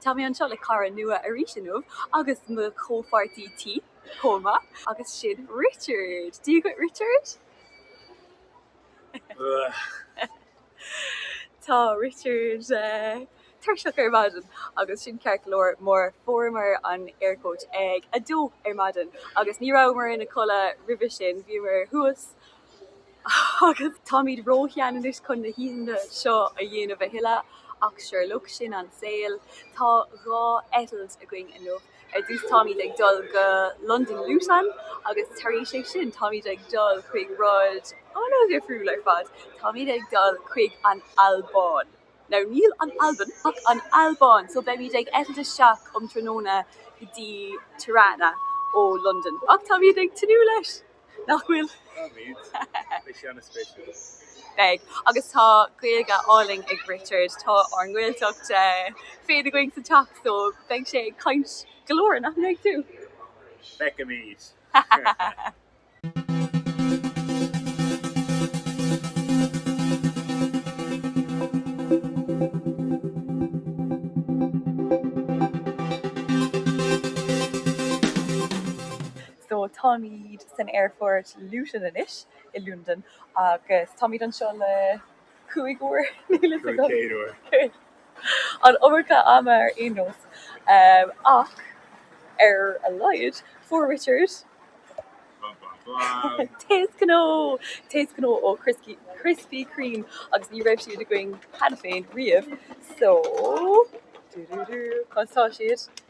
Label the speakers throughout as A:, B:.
A: Tá mé anseo le cara nua arís inniu agus mo chomhpháirtí tí chomh maith agus sin Richard. Dia dhuit Richard! Tá Richard tuirseach ar maidin agus sin ceart go leor mar fuaireamar an Air Coach ag a dó ar maidin agus ní rabhamar inár gcodladh roimhe sin, bhíomar thuas agus táimid róshean anois chun na hoícheanta seo a dhéanamh a thuilleadh, ach sure, look, sin an saol. Tá dhá eitilt againn inniu. Ar dtús táimid ag dul go Londain Luton agus tar éis é sin táimid ag dul chuig rud an-dhifriúil ar fad, táimid ag dul chuig an Albáin. Now níl an Albain ach an Albáin! So beimid ag eitilt isteach um tráthnóna go dtí Tirana ó Londain, ach táimid ag tnúth leis! nach bhfuil? Beidh. Agus tá Gaeilge álainn ag Richard. Tá ár nGaeltacht féin againn sa teach so beidh sé ag caint go leor, nach mbeidh tú? Feicfimid! So táimid san aerfort Luton anois i Londain agus táimid anseo le cúig uair an iomarca ama ar aon nós ach ar a laghad fuair Richard taos gnó taos gnó ó Krispy Kreme agus ní raibh siad againn cheana féin riamh so conas tá siad?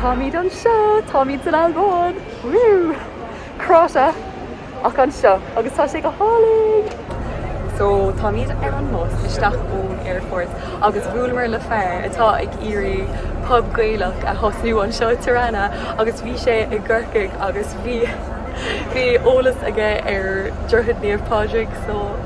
A: Táimid anseo! Táimid san Albáin! Woo! Cráite ach anseo agus tá sé go hálainn! So táimid ar an mbus isteach ón aerfort agus bhuaileamar le fear atá ag iarraidh pub Gaelach a thosnú anseo i Tirana agus bhí sé i gCorcaigh agus bhí eolas aige ar Droichead Naomh Pádraig so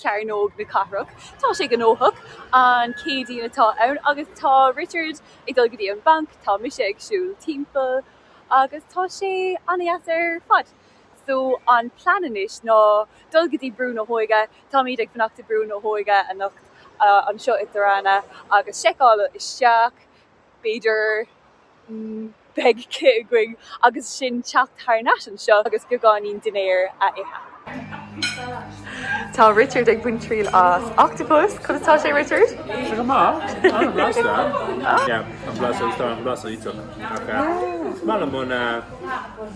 A: Cearnóg na Cathrach. Tá sé gnóthach. An Céadaoin atá ann agus tá Richard ag dul go dtí an banc, tá mise ag siúl timpeall agus tá sé an-deas ar fad. So, an plean anois ná dul go dtí Brú na hÓige, táimid ag fanacht i Brú na hÓige anocht, anseo i dTirana agus seiceáil isteach. b'fhéidir beidh cith againn agus ansin teacht thar nais anseo agus beagáinín dinnéar a ithe. Tá Richard ag baint triail as octopus. Conas atá sé, Richard? Tá sé go maith. An-bhlasta. Yeah,
B: an-bhlasta, tá an blas iontach. Ach, maith liom an, eh,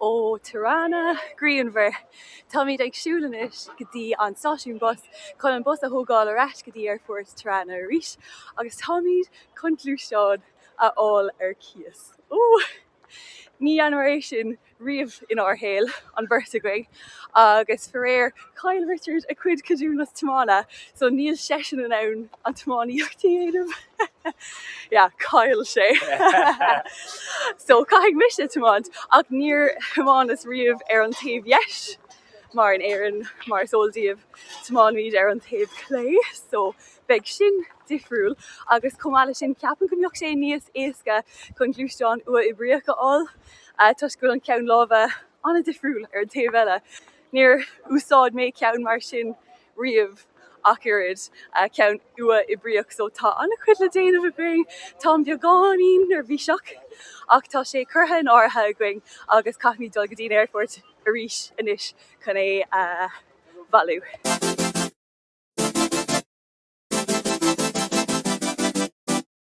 A: ó Tirana, grianmhar. Táimid ag siúl anois go dtí an stáisiún bus chun an bus a thógáil ar ais go dtí Aerfort Tirana arís agus táimid chun gluaisteán a fháil ar cíos. Ó! Ní dhearnamar é sin riamh inár shaol, an bheirt againn agus faraor chaill Richard a cuid ceadúnas tiomána so níl seisean in ann an tiománaíocht a dhéanamh. Yeah, chaill sé. So caithfidh mise tiomáint ach níor thiomáineas riamh ar an taobh dheis mar in Éirinn mar is eol daoibh tiomáinimid ar an taobh clé so beidh sin difriúil agus chomh maith le sin ceapaim go mbeadh sé níos éasca chun gluaisteán uathoibríoch a fháil ah, toisc go bhfuil an ceann láimhe an-difriúil ar an taobh eile. Níor úsáid mé ceann mar sin riamh ach oiread, ceann uathoibríoch so tá an-chuid le déanamh againn. Táim beagáinín neirbhíseach ach tá sé curtha in áirithe againn agus caithfimid dul go dtí an aerfort arís anois chun é a bhailiú.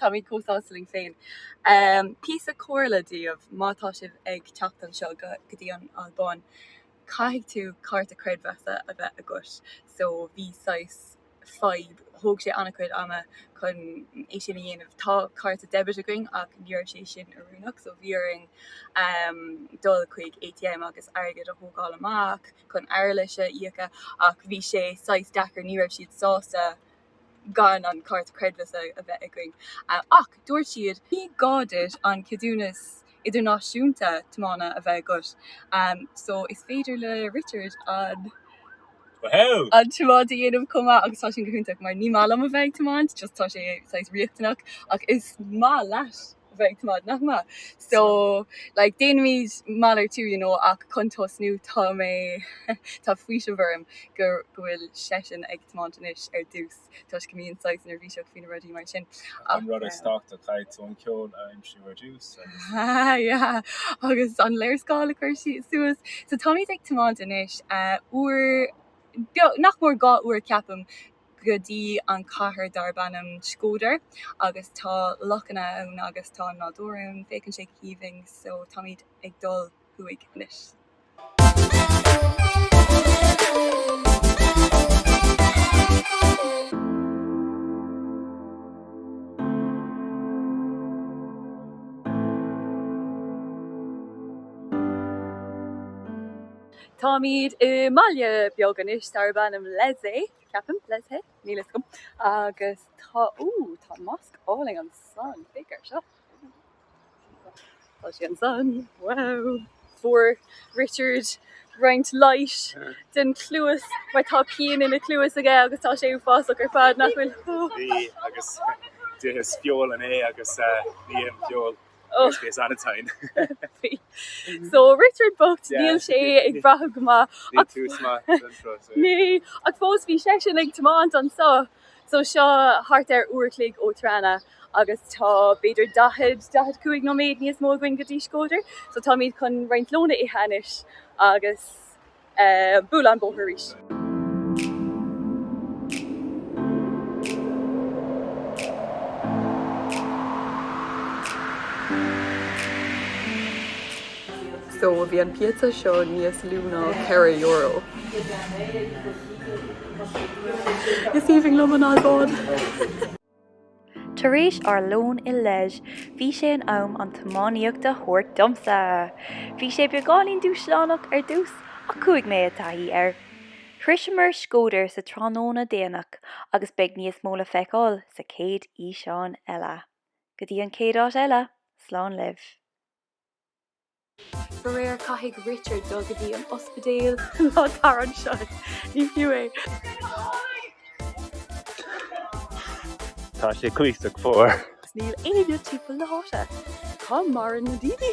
A: Táimid chomh sásta linn féin. Píosa comhairle daoibh, má tá sibh ag teacht anseo go dtí an Albáin caithfidh tú cárta creidmheasa a bheith agat so bhí saghas fadhb, thóg sé an-chuid ama chun é sin a dhéanamh. Tá cárta debit againn ach ní raibh sé sin oiriúnach so bhí orainn dul chuig ATM agus airgead a thógáil amach chun earlais a íoc ach bhí sé saghas deacair, ní raibh siad sásta. gan an cárta creidmheasa a bheith againn. Ach dúirt siad, ní gá duit an ceadúnas idirnáisiúnta tiomána a bheith agat, so is féidir le Richard an tiomáint a dhéanamh chomh maith agus tá sin go hiontach mar ní maith liom a bheith ag tiomáint just tá sé saghas riachtanach ach is maith leis. a bheith ag tiomáint, nach maith? So like déanaimid malartú you know ach chun tosnú tá mé tá faoiseamh orm go bhfuil seisean ag tiomáint anois ar dtús toisc go mbím saghas neirbhíseach faoi na rudaí mar sin ach An rud
C: is tábhachtaí, caithfidh tú an ceol a aimsiú ar dtús agus. Ahh
A: yeah agus an léarscáil a chur suas so táimid ag tiomáint anois uair nach mór dhá uair ceapaim go dtí an cathair darb ainm Shkodër agus tá lochanna ann agus tá an nádúr ann. Féachann sé go haoibhinn so táimid ag dul thuaidh anois. Táimid i mbaile beag anois darb ainm Lezhë, ceapaim, Lezhë? Níl fhios agam. Agus tá, ooh, tá mosc álainn ansan, féach ar seo. Tá sé ansan, wow. Fuair Richard roinnt leighis don chluas mar tá pian ina chluas aige agus tá sé uafásach ar fad, nach bhfuil? Agus
C: d'itheas feoil inné agus ní ithim feoil. Worst case
A: anytime. So Richard bocht, níl sé ag brath go maith inniu ach fós bhí seisean ag tiomáint anso. So seo thart ar uair a chloig ó Tirana agus tá b'fhéidir 40, 45 nóiméad níos mó againn go dtí Shkodër. So táimid chun roinnt lón a ithe anois agus. bualadh an bóthar arís. So bhí an pizza seo níos lú ná ceithre euro. Is aoibhinn liom an Albáin!
D: Tar éis ár lón i Lezhë, bhí sé in am an tiománaíocht a thabhairt domsa. Bhí sé beagáinín dúshlánach ar dtús, ach chuaigh mé i dtaithí air. Shroiseamar Shkodër sa tráthnóna déanach agus beidh níos mó le feiceáil sa chéad fhíseán eile. Go dtí an chéad áit eile, slán libh!
A: Faraor caithfidh Richard dul go dtí an ospidéal. Ná tar anseo, ní fiú é.
C: Tá sé cuíosach fuar. 'S níl
A: éinne timpeall na háite. Cá maireann na daoine?